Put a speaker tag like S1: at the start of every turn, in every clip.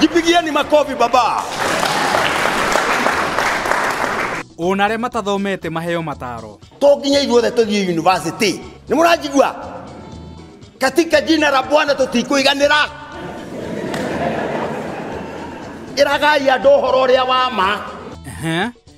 S1: Jipigieni makofi baba. ona arĩa matathomete maheo mataro to nginya ithuothe tũthiĩ university nĩ mũranjigua katika jina la bwana tũtikũiganĩra ĩragai andũ ũhoro ũrĩa wa ma Ehe.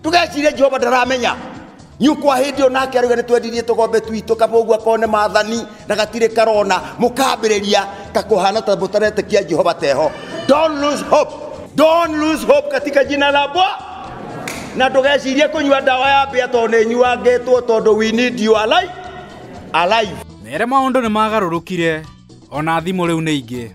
S1: ndũgecirie jehova ndaramenya nyukwa hĩndĩ ĩyo nake arauga nĩ twendirie tũgombe twitũ kaba ũguo akorwo nĩ mathani na gatirĩ karona mũkambĩrĩria ta kũhana ta mũtaretekia jehova teho don't lose hope don't lose hope katika jina la bwa na ndũgecirie kũnyua ndawa ya mbĩa tondũ nĩ nyuangĩtwo tondũ we need you alive alive mere maũndũ nĩ magarũrũkire ona thimũ rĩu nĩ ingĩ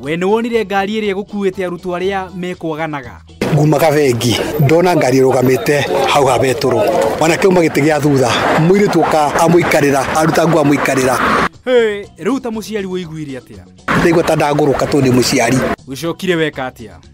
S1: we nĩ wonire ngari ĩrĩa ĩgũkuĩte arutwo arĩa mekwaganaga ngumaga bengi ndona ngari ĩrũgamĩte hau ha betũrũ mwanake uma gĩtĩ gĩa thutha mũirĩtu ũka amũikarĩra aruta nguo amũikarĩra Hey, rĩu ta mũciari wĩiguire atĩa ndaigua ta ndangũrũka tondũ ndĩ mũciari ũcokire weka atĩa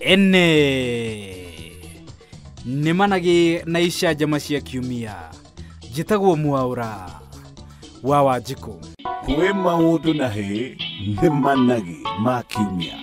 S1: ene nĩ managĩ na icanjama cia kiumia njĩtagwo mwaũra wa wanjikũ kwĩ maũndũ na hĩ nĩ managĩ ma kiumia